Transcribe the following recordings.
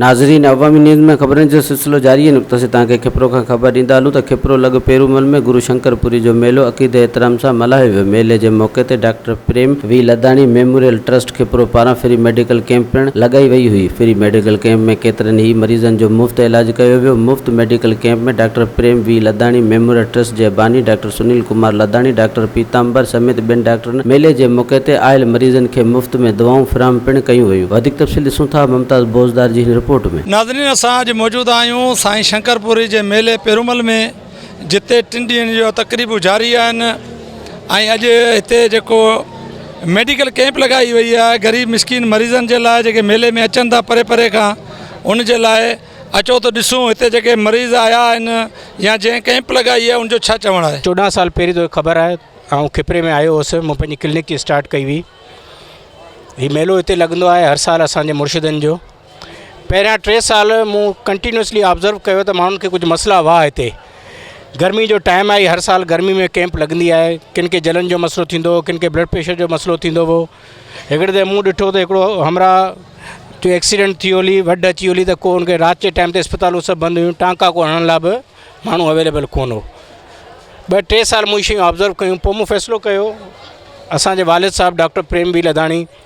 ناظرين عوامي نيوز ۾ خبرن جو سلسلو جاري آهي نقطه سين تهان کي کپرو کان خبر ڏيندا هلون ته کپرو لڳ پيرومل ۾ گرو شنڪر پوري جو ميلو عقيدي احترام سان ملهايو ويو ميلي جي موقعي تي doctor Prem V Ludhani memorial trust Khipro پاران فري ميڊيڪل ڪيمپ پڻ لڳائي وئي هئي، فري ميڊيڪل ڪيمپ ۾ ڪيترن ئي مريضن جو مفت علاج ڪيو ويو، مفت medical camp ۾ doctor Prem V Ludhani, memorial trust جي باني ڊاڪٽر سنيل ڪمار لڌاڻي، ڊاڪٽر پيتامبر سميت ٻين ڊاڪٽرن ميلي جي موقعي تي آيل مريضن کي مفت ۾ دوائون فراهم پڻ ڪيون ويون، وڌيڪ تفصيل ڏسون ٿا ممتاز بوزدار جي هن رپورٽ ۾. ناظرين اسان اڄ موجود آهيون سائين شنڪر پوري جي ميلي پيرومل ۾. جتي ٽن ڏينهن جون تقريبون جاري آهن ۽ اڄ هتي جيڪو ميڊيڪل ڪئمپ لڳائي وئي آهي غريب مسڪين مريضن جي لاء جيڪي ميلي ۾ اچن ٿا پري پري کان ان جي لاء اچو ته ڏسون هتي جيڪي مريض آيا آهن يا جنهن ڪئمپ لڳائي آهي ان جو ڇا چوڻ آهي چوڏهن سال پهرين توکي خبر آهي آئون کپري ۾ آيو هوس مون پنهنجي ڪلنڪ اسٽارٽ ڪئي هئي هي ميلو هتي لڳندو آهي هر سال اسانجي مرشدن جو پهريان ٽي سال مون ڪنٽينيوسلي آبزرو ڪيو ته ماڻهن کي ڪجهه مسئلا هئا هتي گرمي جو ٽائيم آهي هر سال گرمي ۾ ڪيمپ لڳندي آهي ڪن کي جلن جو مسئلو ٿيندو هو ڪن کي بلڊ پريشر جو مسئلو ٿيندو هو هڪڙي دفعي مون ڏٺو ته هڪڙو همراهه جو ايڪسيڊنٽ ٿي هلي وڍ اچي هلي ته ڪو ان کي رات جي ٽائيم تي اسپتالون سڀ بند هيون ٽانڪا ڪو هڻڻ لاء به ماڻهو اويليبل ڪونه هو ٻه ٽي سال مون شيون آبزرو ڪيون پوء مون فيصلو ڪيو اسان جي والد صاحب ڊاڪٽر پريم بي لڌاڻي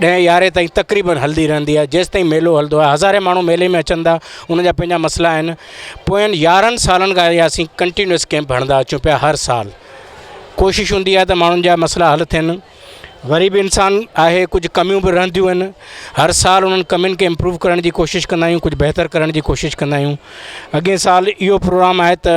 ڏهين يارهين تائين تقريبن هلندي رهندي آهي جيستائين ميلو هلندو آهي هزارين ماڻهو ميلي ۾ اچن ٿا ان جا پنهنجا مسئلا آهن پوئين يارهن سالن کان اهي اسين ڪنٽينيوس ڪيمپ هڻندا اچون پيا هر سال ڪوشش هوندي آهي ته ماڻهن جا مسئلا حل ٿين غريب انسان آهي ڪجهه ڪميون به رهنديون آهن هر سال انهن ڪمين کي امپروو ڪرڻ جي ڪوشش ڪندا آهيون ڪجهه بهتر ڪرڻ جي ڪوشش ڪندا آهيون اڳين سال اهو پروگرام آهي ته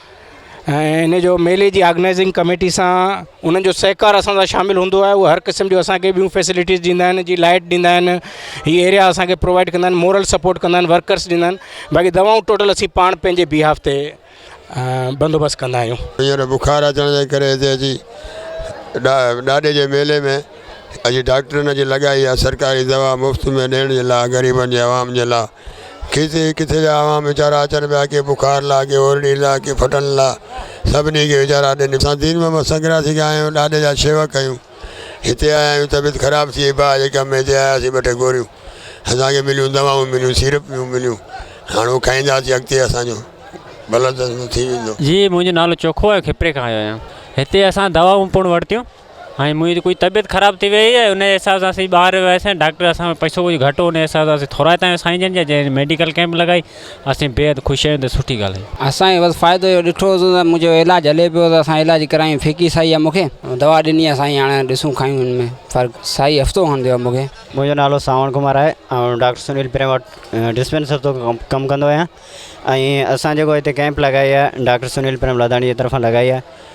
۽ ان جو ميلي جي آرگنائيزنگ ڪميٽي سان انهن جو سهڪار اسان سان شامل هوندو آهي اهو هر قسم جو اسانکي ٻيون فيسلٽيز ڏيندا آهن جي لائٽ ڏيندا آهن هي ايريا اسانکي پرووائيڊ ڪندا آهن مورل سپورٽ ڪندا آهن ورڪرس ڏيندا آهن باقي دوائون ٽوٽل اسين پاڻ پنهنجي بيهاف تي بندوبست ڪندا آهيون هينئر بخار اچڻ جي ڪري هتي اچي ڏاڏي جي ميلي ۾ اڄ ڊاڪٽرن اڄ لڳائي آهي سرڪاري دوا مفت ۾ ڏيڻ جي لاء غريبن جي عوام جي لاء ڪٿي ڪٿي جا عوام ويچارا اچن پيا ڪي بخار لا ڪي اورڙي لا ڪي ڦٽن لا سڀني کي ويچارا اڏي نڪ اسان دين محمد سنگراسي کي آيا آهيون ڏاڏي جا شيوڪ آهيون هتي آيا آهيون طبيعت خراب ٿي وئي باهه جي ڪم ۾ هتي آياسين ٻه ٽي گوريون اسانکي مليون دوائون مليون سيرپ ميون مليون هاڻ هو کائينداسين اڳتي اسانجو بلد ٿي ويندو جي منهنجو نالو چوکو آهي کپري کان آيو آهيان هتي اسان دوائون پڻ ورتيون ۽ منهنجي ڪجهه طبيعت خراب ٿي وئي ۽ انهيء حساب سان اسين ٻاهر وياسين ڊاڪٽر اسان وٽ پئسو ڪجهه گهٽ هو انهيء حساب سان اسين ٿورائتا آهيون سائين جن جا جنهن ميڊيڪل ڪئمپ لڳائي اسين بيحد خوش آهيون ته سٺي ڳالهه آهي. اسان بس فائدو اهو ڏٺو ته منهنجو علاج هلي پيو ته اسان علاج ڪرايون فيڪي سائيء مون کي دوا ڏني آهي سائين هاڻي ڏسون کايون ان ۾ فرق سائيء هفتو کن ڏيو مون کي. منهنجو نالو سانوڻ ڪمار آهي آئون ڊاڪٽر سنيل پريم وٽ ڊسپينسر طور ڪم ڪندو آهيان ۽ اسان جيڪو هتي ڪئمپ لڳائي آهي ڊاڪٽر سنيل پريم لاڌاڻي جي طرفان لڳائي آهي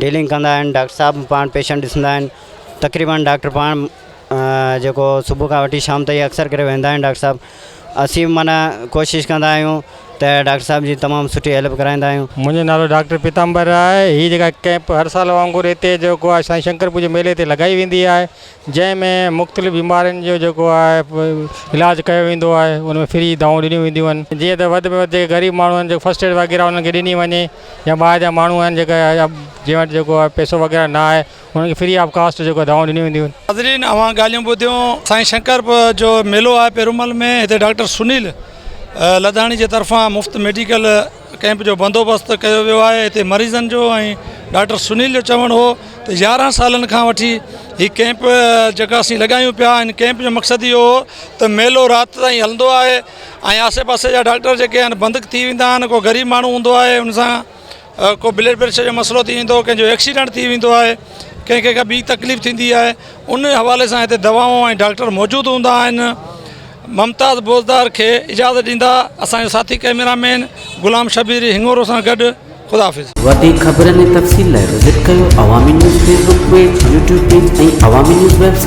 ڊيلنگ ڪندا آهن ڊاڪٽر صاحب پاڻ پيشنٽ ڏسندا آهن تقريبن ڊاڪٽر پاڻ جيڪو صبح کان وٺي شام تائين اڪثر ڪري ويندا آهن ڊاڪٽر صاحب اسين معنيٰ ڪوشش ڪندا آهيون ته ڊاڪٽر صاحب جي تمام سٺي هيلپ ڪرائيندا آهيون منهنجو نالو ڊاڪٽر پيتامبر آهي هي جيڪا ڪيمپ هر سال وانگر هتي جيڪو آهي سائين شنڪر پور جي ميلي تي لڳائي ويندي آهي جنهن ۾ مختلف بيمارين جو جيڪو آهي علاج ڪيو ويندو آهي ان ۾ فري دوائون ڏنيون وينديون آهن جيئن ته وڌ ۾ وڌ جيڪي غريب ماڻهو آهن جيڪو فرسٽ ايڊ وغيره انهن کي ڏني وڃي يا ٻاهر جا ماڻهو آهن جيڪا جنهن وٽ جيڪو آهي پيسو وغيره نه آهي انهن کي فري آف ڪاسٽ جيڪو دوائون ڏنيون وينديون آهن ناظرين اوهان ڳالهيون ٻڌيون سائين شنڪر جو ميلو آهي پيرومل ۾ هتي ڊاڪٽر سنيل لڌاڻي جي طرفان مفت ميڊيڪل ڪئمپ جو بندوبست ڪيو ويو آهي هتي مريضن جو ۽ ڊاڪٽر سنيل جو چوڻ هو ته يارهن سالن کان وٺي هي ڪئمپ جيڪا اسين لڳايون پيا ان ڪئمپ جو مقصد اهو هو ته ميلو رات تائين هلندو آهي ۽ آسي پاسي جا ڊاڪٽر جيڪي آهن بند ٿي ويندا آهن ڪو غريب ماڻهو هوندو آهي ان سان ڪو بلڊ پريشر جو مسئلو ٿي ويندو ڪنهنجو ايڪسيڊنٽ ٿي ويندو آهي ڪنهن کي ڪا ٻي تڪليف ٿيندي آهي ان حوالي سان هتي دوائون ۽ ڊاڪٽر موجود هوندا آهن ممتاز بوزدار کي اجازت ڏيندا اسان جو ساٿي ڪئميرا مين غلام شبير هڱورو سان گڏ خدا حافظ. وڌيڪ خبرن ۽ تفصيل لاء وزٽ ڪريو Awami news Facebook page, YouTube page ۽ Awami news web site.